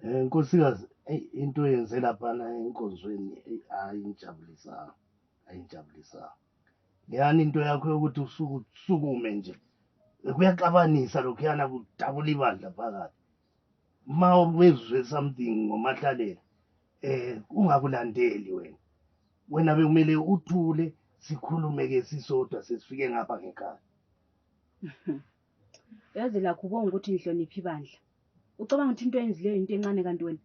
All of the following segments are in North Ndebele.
Eh, nkosikazi eyi into yenze laphana enkonzweni eyi hayi ingijabulisanga ayingijabulisanga leyani into yakho yokuthi usuku usukume nje kuyaxabanisa lokhuyana kudabula ibandla phakathi ma ubezwe something ngomahlalela eh ungakulandeli wena wena bekumele uthule sikhulume-ke sisodwa sesifike ngapha ngekhaya yazi lakho ubonga ukuthi ngihloniphi ibandla ucabanga ukuthi into eyenzileyo yinto encane kanti wena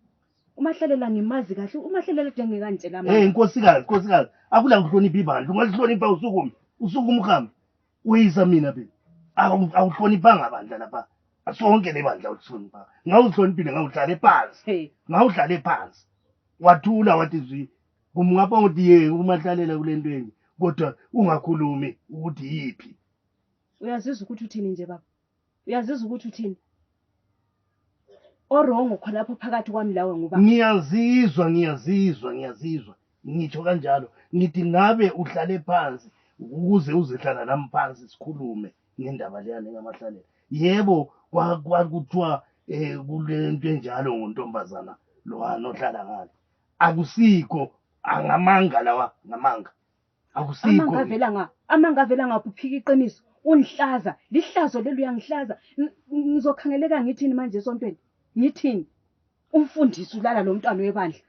umahlalela ngimazi kahle umahlalela de ngekantshela hey nkosikazi nkosikazi akula ngihloniphi ibandla ungalihlonipha usukume usukume uhambe uyisa mina be awuhloniphanga bandla lapha sonke le bandla ulihlonipha ngawuhloniphile ngawudlale phansi ngawudlale phansi wathula wathi zwi kumngapha ukuthi ye umahlalela kule ntweni kodwa ungakhulumi ukuthi yiphi uyazizwa ukuthi uthini nje baba uyazizwa ukuthi uthini orongo khonapho phakathi kwami lawe nguba ngiyazizwa ngiyazizwa ngiyazizwa ngitsho kanjalo ngithi ngabe uhlale phansi ukuze uzehlala nami phansi sikhulume ngendaba leyani engamahlalela yebo kwakuthiwa um eh, kule nto enjalo ngontombazana lowana ohlala ngale akusikho angamanga lawa ngamanga amanga avela nga amanga avela nga kuphika iqiniso ungihlaza lihlazo leli uyangihlaza ngizokhangeleka ngithini manje esontweni ngithini umfundisi ulala lo mntwana webandla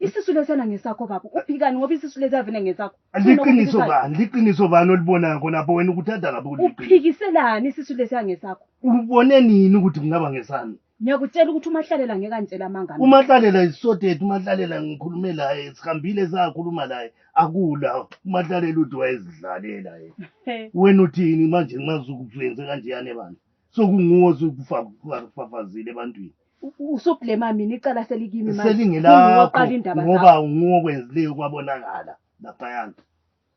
isisu lesena ngesakho baba uphikani ngoba isisu lesiyavele ngesakho liqiniso bani liqiniso bani olibonayo khonapho wena ukuthatha lapho uphikise lani isisu lesiya ngesakho ubone nini ukuthi kungaba ngesani ngiyakutshela ukuthi umahlalela ngeke angitshela amanga mina. umahlalela isisodeti umahlalela ngikhulume laye sihambile sakhuluma laye akula umahlalela uthi wayezidlalela yena He, wena uthini manje nxa sukuyenze kanjeyane bandla sokunguwo osufafazile ebantwini u- u- usublema mina icala selikimi manje. Kunguwe oqala selingelakho indaba zakho. ngoba unguwo okwenzileyo kwabonakala laphayana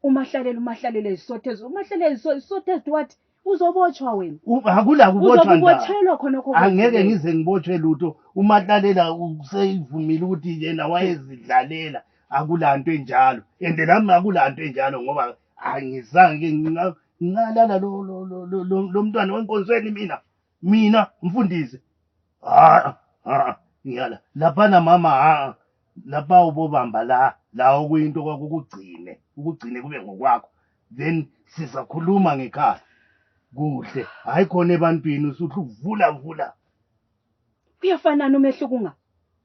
umahlalela umahlalela isothezo umahlalela iso- isothezo wathi uzobotshwa wena U- akulakubotshwa ndaba uzokubotshelwa khonokho angeke kwenzile. ngize ngibotshwe lutho umahlalela useyivumile ukuthi yena wayezidlalela akulanto enjalo and nami akulanto enjalo ngoba angizange nginga- ngingalala lo- lo- lo- lo- lo- lo mntwana wenkonzweni mina mina mfundisi ah ah ngiyala lapha na mama ah lapha ubobamba la la okuyinto kwakukugcine ukugcine kube ngokwakho then sizakhuluma ngekhaya kuhle hayi khona ebantwini usuthi uvula vula kuyafanana umehluko unga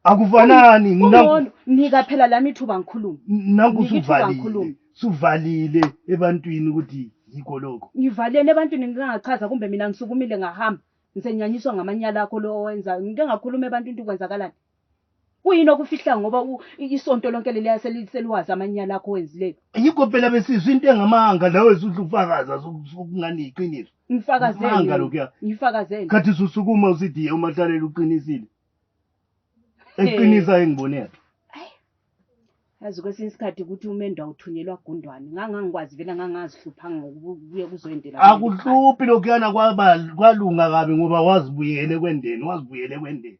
akufanani nginono nika phela lami ithuba ngikhulume nangu suvalile suvalile ebantwini ukuthi yikho lokho ngivalele ebantwini ngingachaza kumbe mina ngisukumile ngahamba ngisenyanyiswa ngamanyala akho lo owenzayo ngike ngakhuluma ebantwini ukuthi kwenzakalani kuyini okufihla ngoba u- i- isonto lonke leliya seli- seliwazi amanyala akho wenzileyo yikho phela besizwa into engamanga lawe zudla ukufakaza ukungani yiqiniso Amanga lokhuya. ngifakazele ngifakazele khathi susukuma usidiye umahlalela uqinisile eqinisa engibone yakhe yazi kwesinye isikhathi ukuthi umendo awuthunyelwa gundwane ngangangikwazi vele ngangazihluphanga ngokubuye kuzoyendela akuhluphi lokhuyana kwaba- kwalunga kabi ngoba wazibuyele kwendeni wazibuyele kwendeni